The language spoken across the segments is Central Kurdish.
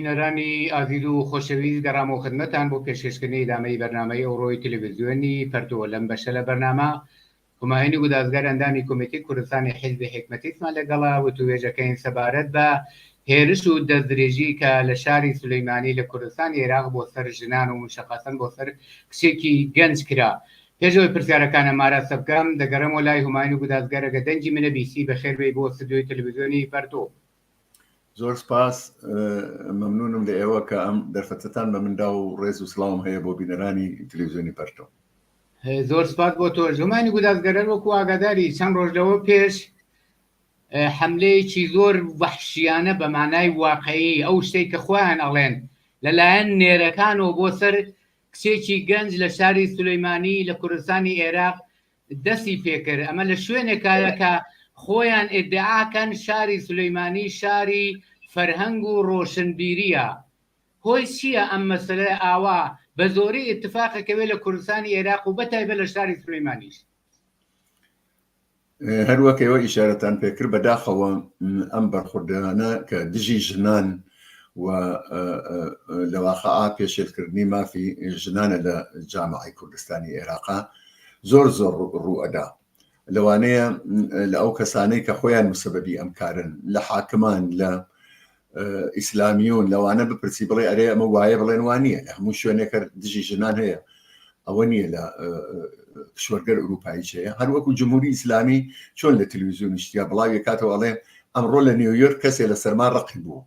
بینەرانی ئازیز و خۆشەویست گەڕامەوە خدمەتان بۆ پێشکەشکردنی ئیدامەی بەرنامەی ئەوڕۆی تلویزیۆنی پەرتووک لەم بەشە لە بەرنامە همایونی گودازگەر ئەندامی کۆمیتەی کوردستانی حیزبی حیکمەتیستمان لەگەڵە وتووێژەکەین سەبارەت بە هێرش و دەستدرێژی کە لە شاری سولەیمانی لە کوردستانی عێراق بۆ سەر ژنان و مشەقەسەن بۆ سەر کچێکی گەنج کرا پێشەوەی پرسیارەکانە مارەسە بکەم دەگەڕێمەوە لای همایونی گودازگەر ئەگە دەنگی منە بیسی بەخێربێی بۆ ستدیۆی تلویزیۆنی پەرتووک زۆر سپاس مەمنونم لە ئێوە کە ئەم دەرفەتتان بە مندا و ڕێز و سلااوم هەیە بۆ بینەرانی تلویزیۆنی پەرتۆ زۆر سپاس بۆ تۆ زمانی گودازگەرەر وەکو ئاگاداری چەند ڕۆژ لەوە پێش حملەیەکی زۆر وەحشیانە بە مانای واقعی ئەو شتێک کە خۆیان ئەڵێن لەلایەن نێرەکانەوە بۆ سەر کچێکی گەنج لە شاری سولەیمانی لە کوردستانی عێراق دەسی پێکرد ئەمە لە شوێنێکایە کە خۆیان ئدعاکەن شاری سلیمانی شاری فەرهەنگ و ڕۆشنبیریە هۆی چییە ئەم مەسلە ئاوا بە زۆری اتفاق کەوێ لە کوردستانی عێراق و بە تایبە لە شاری سلیمانیش هەروەکەەوە ئیشارەتان پێکرد بەداخەوە ئەم بەرخوردانە کە دژی ژنان و لەواقع پێشێلکردنی مافی ژنانە لە جامعی کوردستانی عێراقا زۆر زۆر ڕوو ئەدا لەوانەیە لە ئەو کەسانەی کە خۆیان مسەبەبی ئەم کارن لە حاکمان لە ئیسلامیون لەوانە بپرسی بڵێ ئەرێ ئەمە وایە بڵێن وانە لە هەموو شوێنێکە دژی ژنان هەیە ئەوە نییە لە کشوەرگەر ئوروپاییچەیە هەروەکو جمهوری ئیسلامی چۆن لە تلویزیون نیشتیا بڵاوی کاتەوەڵێ ئەمڕۆ لە نیویۆرک کەسێ لە سەرما ڕقی بوو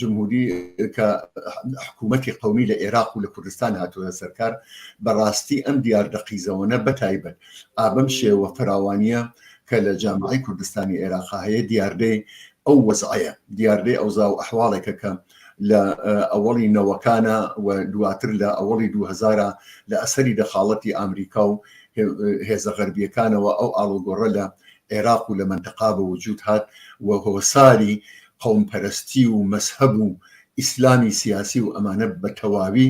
جمهوری کە حکوومەتی قومی لە عێراق و لە کوردستان هاتووە سەرکار بەڕاستی ئەم دیاردە قیزەوەە بەتایبەت ئابم شێوە فراوانە کە لە جامعی کوردستانی عێراق هەیە دیاردەی ئەو وەزعەیە دیاردەی ئەوزا و ئەحواڵێکە کە لە ئەوەڵی نەوەکانە و دواتر لە ئەوەڵی 2000 لە ئەسەری دەخاڵەتی ئامریکا و هێزە غەربیەکانەوە ئەو ئاڵوگۆڕە لە عێراق و لە مەنتەقا بە وجود هات و هۆساری قەوم پەرەستی و مەزهەب و ئیسلامی سیاسی و ئەمانە بە تەواوی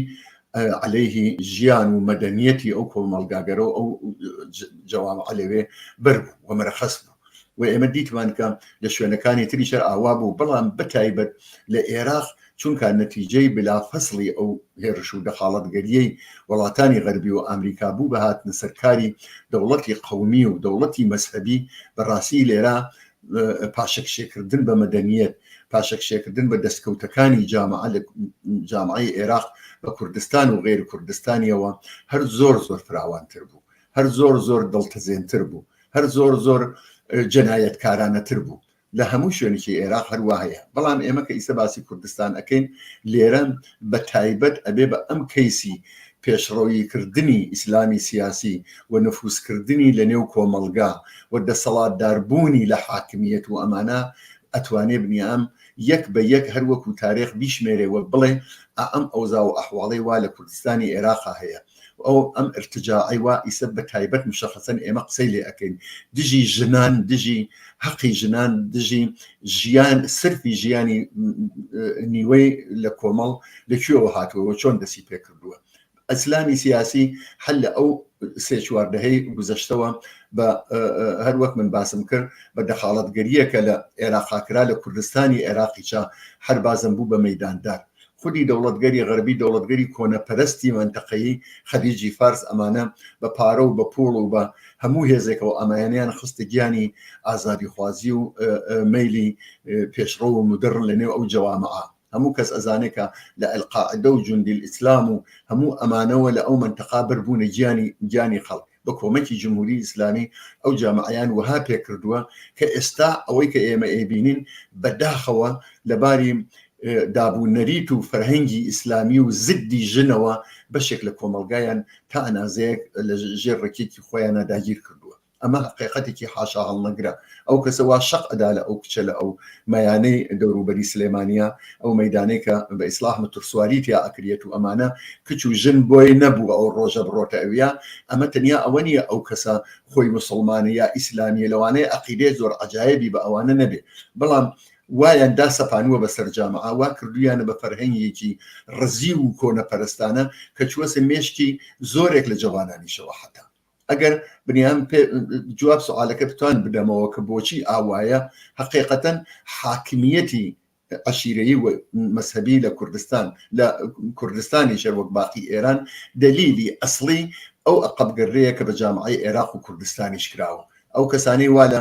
عەلەیهی ژیان و مەدەنیەتی ئەو کۆمەڵگاگەرە و ئەو جەوامعە لەوێ بەر بوو و مەرەخەس بوو و ئێمە دیتمان کە لە شوێنەکانی تریشە ئاوا بوو بەڵام بە تایبەت لە عێراق چونکا نەتیجەی بلا فەسڵی ئەو هێرش و دەخاڵەتگەریەی وەڵاتانی غەربی و ئامریکا بوو بە هاتنە سەر کاری دەوڵەتی قەومی و دەوڵەتی مەزهەبی بە ڕاستی لێرا پاشەکشێکردن بە مەدەنیەت پاشەکشێکردن بە دەستکەوتەکانی جامعە لە جامعی عێراق بە کوردستان و غێر کوردستانیەوە هەر زۆر زۆر فراوانتر بوو هەر زۆر زۆر دڵتەزێنتر بوو هەر زۆر زۆر جەنایەتکارانەتر بوو لە هەموو شوێنکی ئێراق هەروا هەیە بەڵام ئێمە کە ئیسە باسی کوردستان ئەەکەین لێرە بە تایبەت ئەبێ بە ئەم کەیسی پێشڕەوی کردنی ئیسلامی سیاسی و نفوسکردنی لە نێو کۆمەلگا و دەسەڵات داربوونی لە حاکمیت و ئەمانە ئەتوانێ بنیام یەک بە یەک هەروەکو تارێخ بیشمێرێ وە بڵێ ئەم ئەوزا و ئەحواڵی وا لە کوردستانی ئێراقا هەیە ئەو ئەم ارتجاعی وا ئیسە بە تایبەت مشخصەن ئێمە قسەی لێ ئەکەین دژی ژنان دژی حەقی ژنان دژی ژیان سرفی ژیانی نیوەی لە کۆمەڵ لەکوێەوە هاتووەوە چۆن دەسی پێکردووە ئەسلامی سیاسی هەل لە ئەو سێ چواردەهەی گوزەشتەوە بە هەر وەک من باسم کرد بە دەخاڵەتگەریەکە لە عێراقاکرا لە کوردستانی عێراقیچە هەر بازم بوو بە مەداندار خودی دەوڵەتگەری غەربی دەوڵەتگەری کۆنەپەرستی مەنتەقەیی خەلیجی فارس ئەمانە بە پارە و بە پووڵ و بە هەموو هێزێکەوە ئەمایانیان خستە گیانی ئازادیخوازی و مەیلی پێشڕەو و مدڕن لە نێو ئەو جەوامعە هەموو کەس ئەزانێ کە لە ئەلقاعدە و جوندیل ئیسلام و هەموو ئەمانەوە لە ئەو مەنتەقا بەربوونە گیانی گیانی خەڵک بە کۆمەکی جمهوری ئیسلامی ئەو جامەعەیان وەها پێکردووە کە ئێستا ئەوەی کە ئێمە ئەیبینین بە داخەوە لە باری داب و نەریت و فەرهەنگی ئیسلامی و زدی ژنەوە بەشێک لە کۆمەلگایان تا ئەنازەیەک لە ژێر ڕکێکی خۆیانە داگیر کردووە ئەمە قێقەتێکی حاشا هەڵنەگرە ئەو کەسە وا شەق ئەدا لە ئەو کچە لە ئەو مەیانەی دەوروبەری سلێمانییە ئەو مەیدانەی کە بە ئیسلاح متڕسواری تیا ئەکریەت و ئەمانە کچ و ژن بۆی نەبوو ئەو ڕۆژە بڕۆتە ئەویا ئەمە تەنیا ئەوە نییە ئەو کەسە خۆی موسڵمانە یا ئیسلامییە لەوانەیە عەقیدەی زۆر عەجایەبی بە ئەوانە نەبێ بەڵام وایان دا سەپانووە بەسەر جامعە وا کردویانە بە فەرهەنگێکی ڕزیو و کۆنەپەرستانە کە چووەسە مێشکی زۆرێک لە جەوانانیشەوە حەتا ئەگەر بنیان جواب سوالەکە بتوان بدەمەوە کە بۆچی ئاوایە حقیقەتەن حاکمیەتی عشیرەی و مەسەبی لە کوردستان لە کوردستانی شەر وەک باقی ئێران دلیلی ئەسلی ئەو ئەقبگەرەیە کە بە جامعی عێراق و کوردستانیش کراوە ئەو کەسانەی وا لە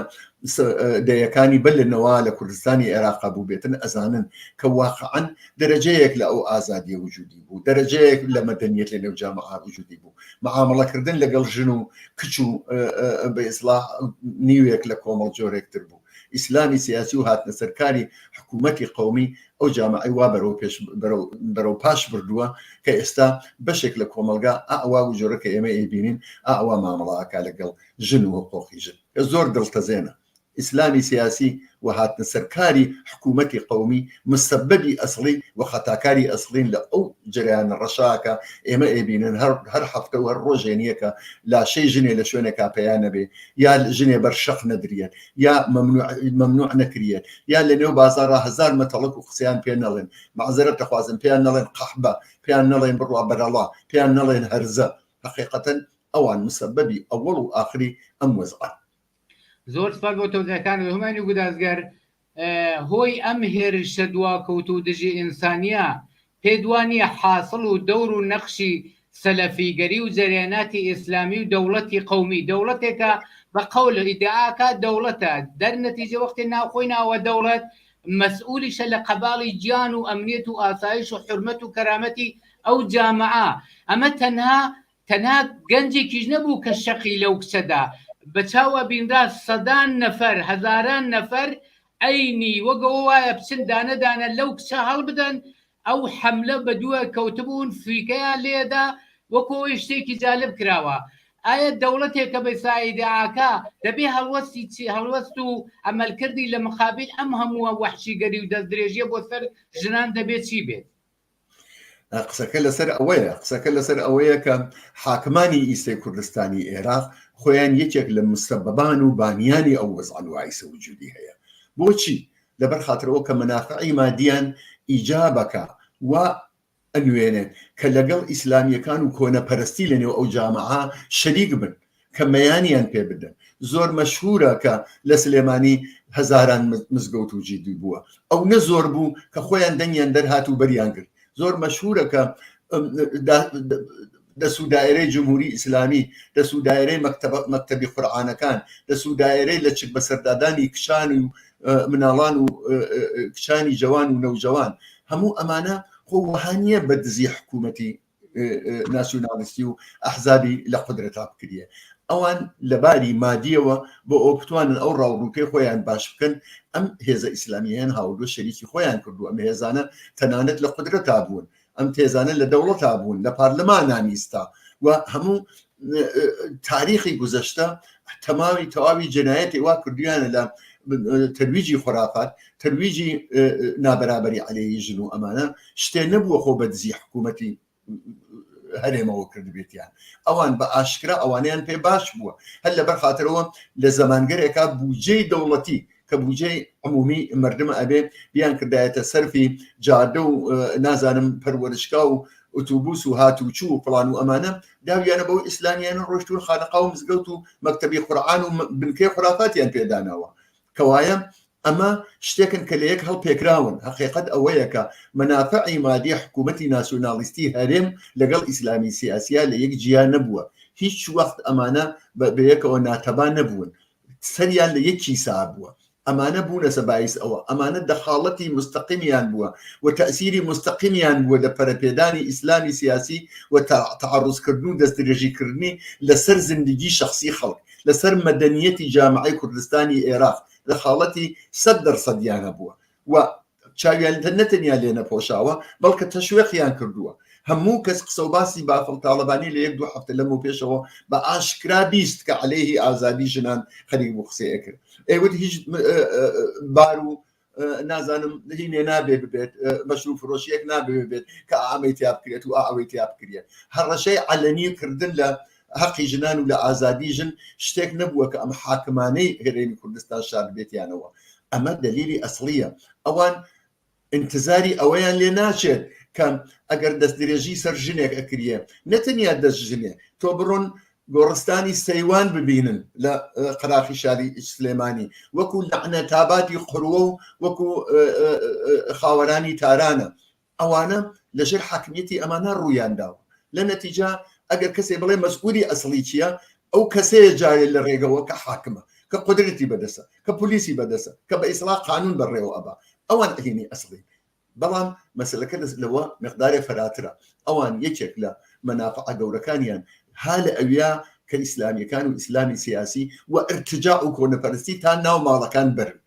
دەیەکانی بەر لە نەوا لە کوردستانی عێراقا بوو بێتن ئەزانن کە واقعەن دەرەجەیەک لە ئەو ئازادیە وجودی بوو دەرەجەیەک لە مەدەنیت لە نێو جامعا وجودی بوو معاملەکردن لەگەڵ ژن و کچ و بە ئیسلا نیوێک لە کۆمەڵ جۆرێکتر بوو ئیسلامی سیاسی و هاتنە سەرکاری حکوومەتی قومی ئەو جامعی وا بەرەو پێش بەرەو پاش بردووە کە ئێستا بەشێک لە کۆمەلگا ئاوا و جۆرە کە ئێمە ئەیبینین ئاوا مامەڵاکە لەگەڵ ژن و حقوقی ژن کە زۆر دڵتەزێنە ئیسلامی سیاسی و هاتنە سەر کاری حکوومەتی قەومی مسەبەبی ئەسڵی و خەتاکاری ئەسڵین لە ئەو جەرەیانە ڕەشاکە ئێمە ئێبینن هەر هەر هەفتە و هەر ڕۆژێ نیەکە لاشەی ژنێ لە شوێنێکا پەیا نەبێ یا ژنێ بەر شەق نەدرێت یا مەمنوع نەکرێت یا لە نێو بازارە هزار مەتەڵک و قسەیان پێ نەڵێن مەعزەرەت دەخوازن پێیان نەڵێن قەحبە پێیان نەڵێن بڕوا بەرەڵا پێیان نەڵێن هەرزە حقیقەتەن ئەوان مسەبەبی ئەوەڵ و ئاخری ئەم وەزعەن. زۆر سوپاس بۆ تەوزیعەکانت هومانی و گودازگەر. هۆی ئەم هێرشە دواکەوتوو و دژی ئینسانیە پێت وا نیە حاسڵ و دەور و نەقشی سەلەفیگەری و جەرەیەناتی ئیسلامی و دەوڵەتی قەومی دەوڵەتێکە بە قەول ئیدعا ئەکات دەوڵەتە دەر نەتیجە وەختێ ناوخۆی ناوە دەوڵەت مەسئولیشە لە قەباڵی گیان و ئەمنیەت و ئاسایش و حورمەت و کەرامەتی ئەو جامعە ئەمە تەنها تەنها گەنجێکیش نەبوو کە شەقی لەو کچەدا بەچاو ئەبینرا، سەدان نەفەر، هەزاران نەفەر ئەینی وەک ئەوە وایە بچن دانە دانە لەو کچە هەڵبدەن، ئەو حەملە بەدوای کەوتبوون، فریکەیان لێدا، وەکو ئەوەی شتێکی جالب کراوە، ئایا دەوڵەتێک کە بە سایداکا دەبێ هەڵوەستی چی، هەڵوەست و ئەمەلکردی لە مقابیل ئەم هەمووە وەحشیگەری و دەستدرێژیە بۆ سەر ژنان دەبێ چی بێت؟ قسەکە لەسەر ئەوەیە قسەکە لەسەر ئەوەیە کە حاکمانی ئیسەی کوردستانی ئێراق خۆیان یەکێک لە مستەبەبان و بانیانی ئەو وەزانوایسە وجودی هەیە بۆچی لەبەر خاطرەوە کە منافعی مادیان ئیجابەکە و ئەنوێنێت کە لەگەڵ ئیسلامیەکان و کۆنەپەرستی لەنێو ئەو جامعە شەریک بن کە مەیانیان پێ بدەن زۆر مەشهورە کە لە سلێمانی هەزاران مزگەوت و جیدی بووە ئەو نە زۆر بوو کە خۆیان دەنگیان دەرهات و بەریان کرد زۆر مەشهورە کە دەسوو دایرەی جمهوری ئیسلامی دەسوو دایرەی مەکتتەبی قورآانەکان دەسوو دایرەی لە چک بەسەردادانی کشان و مناڵان و کشانی جوان و نەوجوان هەموو ئەمانە خۆ وهانیە بە دزی حکوومەتی ناسیونالیستی و ئەحزابی لە قدرەتا بکریە ئەوان لەباری مادیەوە بۆ ئەو بتوانن ئەو ڕاوڕووکەی خۆیان باش بکەن ئەم هێزە ئیسلامیان هاوردو شەریکی خۆیان کردو ئەم هێزانە تەنانەت لە قدرەتا بوون ئەم تێزانە لە دەوڵەتا بوون لە پارلەمانانیستا و هەموو تاریخی گوزەشتە تەماوی تەواوی جنایەتی وا کردویانە لە تەرویجی خۆرافات تەرویجی نابەرابەری علێی ژن و ئەمانە شتێ نەبووە خۆ بە دزی حکوومەتی هەرێمەوە کردبێتیان ئەوان بە ئاشکرا ئەوانیان پێ باش بووە هەر لەبەر خاطرەوە لە زمانگەرێکا بودجەی دەوڵەتی کە بودجەی عمومی مردم ئەبێ بیان کردایەتە سەرفی جادە و نازانم پەروەرشگا و ئوتوبوس و هات و چوو و فلان و ئەمانە داویانە بەو ئیسلامیانە ڕۆشتون خانەقا و مزگەوت و مەکتتەبی قورآان و بنکەی خرافاتیان پێداناوە کەوایە ئەمە شتێکن کە لە یەک هەڵ پێکراون حقیقت ئەوەیە کە منافعی مادی حکوومەتتی ناسیۆنالیستی هەرێم لەگەڵ ئیسلامی سیاسیا لە یەک جیا نەبووە هیچ وەخت ئەمانە بەبەیەکەوە ناتەبان نەبوون سەریان لە یەک کیسا بووە، ئەمانە بوونەسە بایس ئەوە، ئەمانە دەخاڵەتی مستەقیمیان بووە و تەئسیری مستەقیمیان بووە لە پەرەپێدانی ئیسلامی سیاسی و تەعەڕوزکردن و دەستدرێژیکردنی لە سەر زندگی شەخسی خەڵک، لە سەر مەدەنیەتی جامعەی کوردستانی ئێراق دەخاڵەتی سەد دەرسەدیان هەبووە. و چاویان نەتەنیا لێ نەپۆشاوە بەڵکە تەشوێقیان کردووە هەموو کەس قسە و باسی بافڵ تاڵەبانی لە یەک دوو هەفتە لەم و پێشەوە بە ئاشکرا بیست کە عەلەیهی ئازادی ژنان خەریک بوو قسەی ئەکرد ئێوت هیچ بار و نازانم هینێ نابێ ببێت بەشرو فرۆشیەک نابێ بێت کە ئامەی تیا بکرێت و ئەوەی تیا بکرێت هەڕەشەی عەلەنی کردن لە هەقی ژنان و لە ئازادی ژن شتێک نەبووە کە ئەم حاکمانەی هەرێمی کوردستان شاردبێتیانەوە ئەمە دەلیلی ئەسڵیە ئەوان انتزاری ئەوەیان لێ ناچێت کەم ئەگەر دەست درێژی سەر ژنێک ئەکریە نەتەنیا دەست ژنێ تۆ بڕۆن گۆڕستانی سەیوان ببینن لە قراخی شاری سلێمانی وەکو لەعنە تاباتی قروە و وەکو خاوەرانی تارانە ئەوانە لە ژێر حاکمیەتی ئەمانە ڕوویان داوە لە نەتیجە ئەگەر کەسێ بڵێ مەسئولی ئەسڵی چیە ئەو کەسەیە جارێ لە ڕێگەوە کە حاکمە کە قودرەتی بەدەسە کە پولیسی بەدەسە کە بە ئیسڵاح قانون بەڕێوە ئەبا ئەوان ئەهینی ئەسڵین بەڵام مەسلەکە دەست لەوە مقدارێ فەراترە ئەوان یەکێک لە مەنافع گەورەکانیان ها لە ئەویا کە ئیسلامیەکان و ئیسلامی سیاسی و ئەرتجا و کۆنەپەرستی تا ناو ماڵەکان بەرن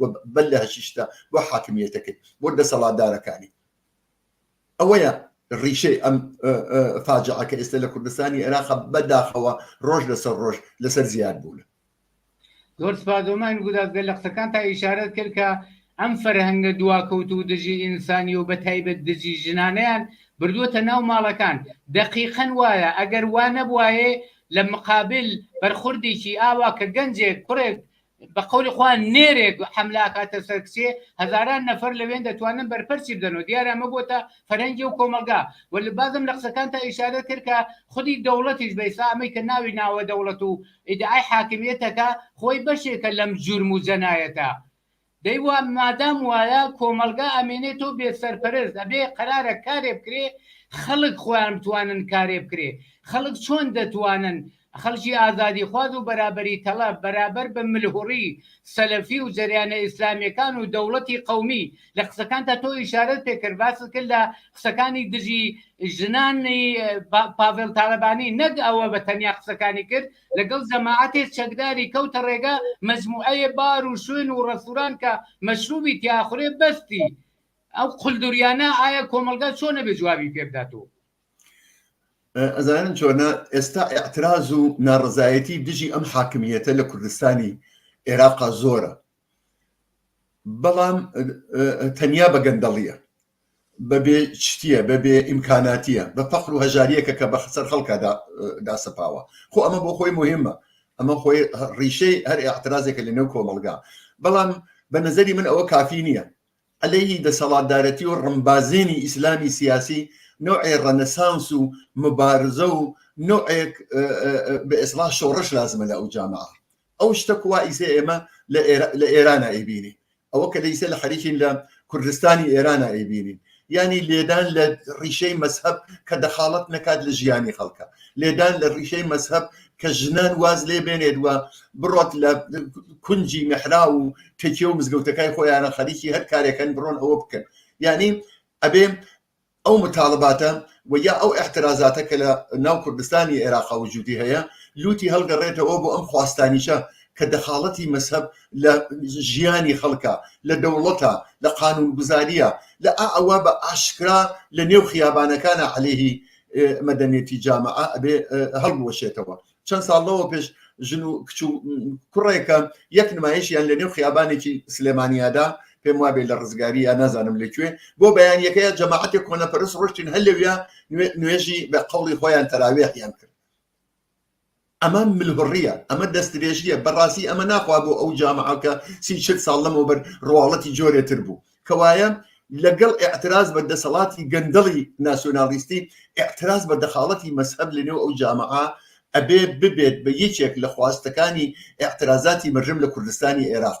و بەل لە هەشیشتە بۆ حاکمیەتەکەی بۆ دەسەڵاتدارەکانی ئەوەیە ڕیشەی ئەم فاجعەکە ئێستا لە کوردستانی عێراق بەداخەوە ڕۆژ لەسەر ڕۆژ لەسەر زیاد بوون زۆر سپادۆمان گودازگە لە قسەکان تا ئیشارەت کرد کە ئەم فەرهەنگە دواکەوت و دژی ئینسانی و بە تایبەت دژی ژنانیان بردووەتە ناو ماڵەکان دەقیقەن وایە ئەگەر وا نەبواێ لە مقابل بەرخوردێکی ئاوا کە گەنجێک کوڕێک بە قەولی خوا نێرێ حەملە ئەکاتە سەر کچێ هەزاران نەفەر لەوێن دەتوانن بەرپەرچی بدەنەوە دیارە ئەمە بۆتە فەرهەنگی و کۆمەڵگا و لە بازم لە قسەکان تا ئیشارە کرد کە خودی دەوڵەتیش بە ئیسا ئەمەی کە ناوی ناوە دەوڵەت و ئیدعای حاکمیەتەکە خۆی بەشێکە لەم جورم و جەنایەتە دەی وا مادام وایە کۆمەلگا ئەمێنێ تۆ بێ سەرپەرست ئەبێ قەرارە کارێ بکرێ خەڵک خۆیان بتوانن کارێ بکرێ خەڵک چۆن دەتوانن خەڵکی ئازادیخواز و بەرابەری تەڵەب بەرابەر بە ملهوڕی سەلەفی و جەریانە ئیسلامیەکان و دەوڵەتی قەومی، لە قسەکانتا تۆ ئیشارەت پێ کرد باست کرد لە قسەکانی دژی ژنانی پاڤێڵ تالەبانی نەک ئەوە بە تەنیا قسەکانی کرد لەگەڵ جەماعەتێ چەکداری کەوتە ڕێگا مەجموعەیێ بار و شوێن و ڕێستوران کە مەشروبی تیا ئەخورێ بەستی ئەو قلدریانە ئایا کۆمەڵگا چۆنە بێ جوابی پێ بداتۆ؟ ئەزانن چۆنە ئێستا ئەعتراز و ناڕزایەتی دژی ئەم حاکمیەتە لە کوردستانی عێراقا زۆرە بەڵام تەنیا بە گەندەڵیە بەبێ شتیە بەبێ ئیمکاناتیە بە فەخر و هەژاریەکە کە بە خسەر خەڵکە داسەپاوە خۆ ئەمە بۆ خۆی مهمە ئەمە خۆی ڕیشەی هەر ئاعترازێکە لە نێو کۆمەلگا بەڵام بە نظری من ئەوە کافی نییە عەلەیهی دەسەڵاتدارەتی و ڕمبازێنی ئیسلامی سیاسی نەوعێ ڕەنەسانس و مبارزە و نەوعێک بە ئێسڵاح شۆڕش لازمە لە ئەو جامەعە ئەو شتە کوا ئیسێ ئێمە لە ئێرانە ئەیبینی ئەوە کە لە ئیسێ لە حەریکین لە کوردستانی ئێرانە ئەیبینین ینی لێدان لە ڕیشەی مەسهب کە دەخاڵت نەکات لە ژیانی خەڵکە لێدان لە ڕیشەی مەسهب کە ژنان واز لێ بێنێت و بڕۆت لە کونجی مەحرا و تەکیە و مزگەوتەکای خۆیانە خەریکی هەر کارێکن بڕۆن ئەوە بکەن یعنی ئەبێ ئەو متالباتە و یا ئەو احترازاتە کە لە ناو کوردستانی عێراقا وجودی هەیە لوتی هەڵگەڕێتەوە بۆ ئەم خواستانیشە کە دەخاڵەتی مەسهب لە ژیانی خەڵکە لە دەوڵەتە لە قانون گوزاریە لە ئەوە بە ئاشکرا لە نێو خیابانەکانە عليهەیهی مەدەنێتی جامعە ئەبێ هەڵبوەشێتەوە چەند ساڵ لەوە پێش ژن و کچ و کوڕێکە یەک نمایشیان لە نێو خیابانێکی سلێمانیادا پێم وابێ لە ڕزگاری یا نازانم لەکوێ بۆ بەیانەکەی جەماعەتی کۆنەپەرست ڕشتین هەلویا نوێژی بە قوڵی خۆیان تەراوێحیان کرد ئەمە ملهوڕیە ئەمە دەستدرێژیە بەڕاستی ئەمە ناخوا بۆ ئەو جامعە کە سی چل ساڵ لەمەوبەر ڕواڵەتی جۆرێ تر بوو کەوایە لەگەڵ ئاعتراز بە دەسەڵاتی گەندەڵی ناسیۆنالیستی ئاعتراز بە دەخاڵەتی مەسهەب لەنێو ئەو جامعە ئەبێ ببێت بە یەکێک لە خواستەکانی ئاعترازاتی مەرژەم لە کوردستانی ئێراق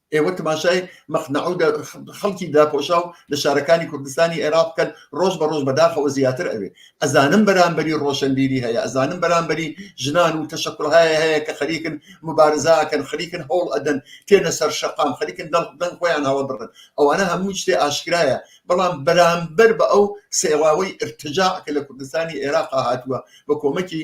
ئێوە تماشای مەخنەعو دە خەڵکی داپۆشاو لە شارەکانی کوردستانی عێراق بکەن ڕۆژ بە ڕۆژ بەداخەوە زیاتر ئەوێ ئەزانم بەرامبەری ڕۆشنبیری هەیە ئەزانم بەرامبەری ژنان و تەشەکولهایە هەیە کە خەریکن مبارزاکەن خەریکن هەوڵ ئەدەن تێنە سەر شەقام خەریکن دەڵ دەنگ خۆیان هەڵە بڕن ئەوانە هەموو شتێ ئاشکرایە بەڵام بەرامبەر بە ئەو سێڵاوەی ارتجاع کە لە کوردستانی عێراقا هاتووە بە کۆمەکی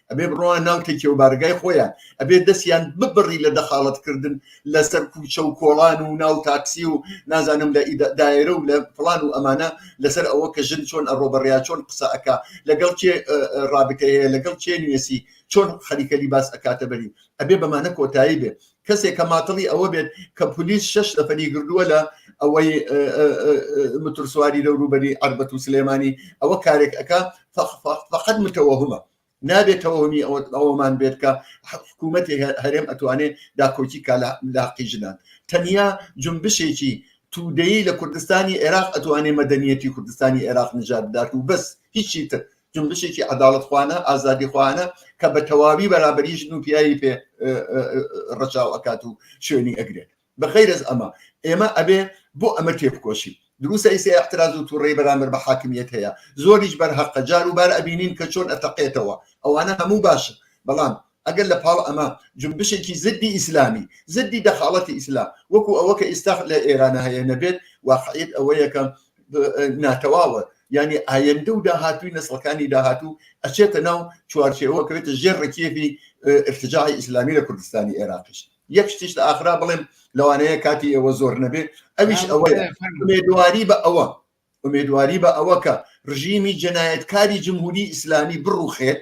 ئەبێ بڕۆە ناو تەکێ و بارگای خۆیان ئەبێ دەستیان ببڕی لە دەخاڵەتکردن لەسەر کوچە و کۆڵان و ناو تاکسی و نازانم لە دایرە و لە فلان و ئەمانە لەسەر ئەوە کە ژن چۆن ئەڕۆ بەڕیا چۆن قسە ئەک لەگەڵ کێ ڕابتەیە لەگەڵ کێ نوێسی چۆن خەریکەلی باس ئەکاتە بەری ئەبێ بەمانە کۆتایی بێ کەسێک کە ماتڵی ئەوە بێت کە پلیس شش نەفەری گردووە لە ئەوەی مترسواری لە رووبەری ئەربەت و سلێمانی ئەوە کارێک ئەەکە فقط متەوەهمە نابێتەوەمی ئەوەمان بێت کە حکوومەتی هەرێم ئەتوانێت داکۆکی کا لە قیژدان تەنیا جنبشێکی تودەیی لە کوردستانی عێراق ئەتوانێ مەدەنیەتی کوردستانی عێراق نژاد بدات و بەس هیچی تر جنبشێکی عداڵتخواانە ئازادیخواانە کە بە تەواوی بەرابری ژن و پیاوی پێ ڕەچاو ئەکات و شوێنی ئەگرێت بە غیرز ئەمە ئێمە ئەبێ بۆ ئەمە تێبکۆشی دروسە ئیسە احتراز و تووڕی بەرامبەر بە حاکمیت هەیە زۆریش بەرهەقە جار و بار ئەبینین کە چۆن ئەتەقێتەوە ئەوانە هەموو باشە بەڵام ئەگەر لە پاڵ ئەمە جونبشێکی زدی ئیسلامی، زدی دەخاڵەتی ئیسلام، وەکو ئەوە کە ئیستا لە ئێرانە هەیە نەبێت، واقعیەت ئەوەیە کە ناتەواوە، یانی ئایندە و داهاتووی نەسڵەکانی داهاتوو ئەچێتە ناو چوارچێوە، ئەکەوێتە ژێر ڕکێفی ئیرتجاعی ئیسلامی لە کوردستانی ئێراقیش. یەک شتیش لە ئاخرا بڵێم، لەوانەیە کاتی ئێوە زۆر نەبێ، ئەویش ئەوەیە، ئومێدواری بە ئەوە، ئومێدواری بە ئەوە کە ڕژیمی جەنایەتکاری جمهوری ئیسلامی بڕوخێت،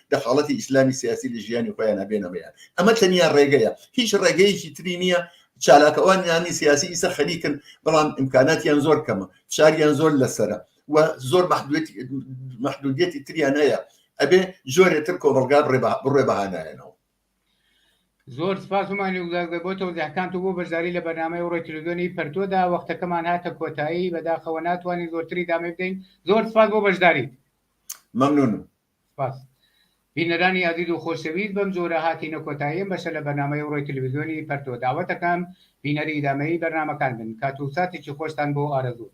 دەخاڵەتی ئیسلامی سیاسی لە ژیانی خۆیان نابێنە بەیان ئەمە تەنیا ڕێگەیە هیچ ڕێگەیەکی تری نییە چالاکەوان یانی سیاسی ئیسە خەریکن بەڵام ئیمکاناتیان زۆر کەمە شاریان زۆر لەسرە و زۆر محدودیەتی تریان هەیە ئەبێ زۆرێتر کۆمەلگا بڕێ بەهانایەنەوە زۆر سپاسمان بۆ تۆزیحکان و بۆ بەشداری لە بەنامەی ڕۆی تلویزیۆنی پەرتۆدا وەختەکەمان هاتە کۆتایی بەداخەوە ناتوانین زۆرتری دامێ بدەین زۆر سپاس بۆ بەشداریت مەمنونم سپاس بینەرانی ئازیز و خۆشەویست بەم جۆرە هاتینە کۆتایی ئەم بەشە لە بەرنامەی ئەوڕۆی تلویزیۆنی پەرتۆ داوەتەکەم بینەری ئیدامەیی بەرنامەکان بن کات و ساتێکی خۆشتان بۆ ئارەزوو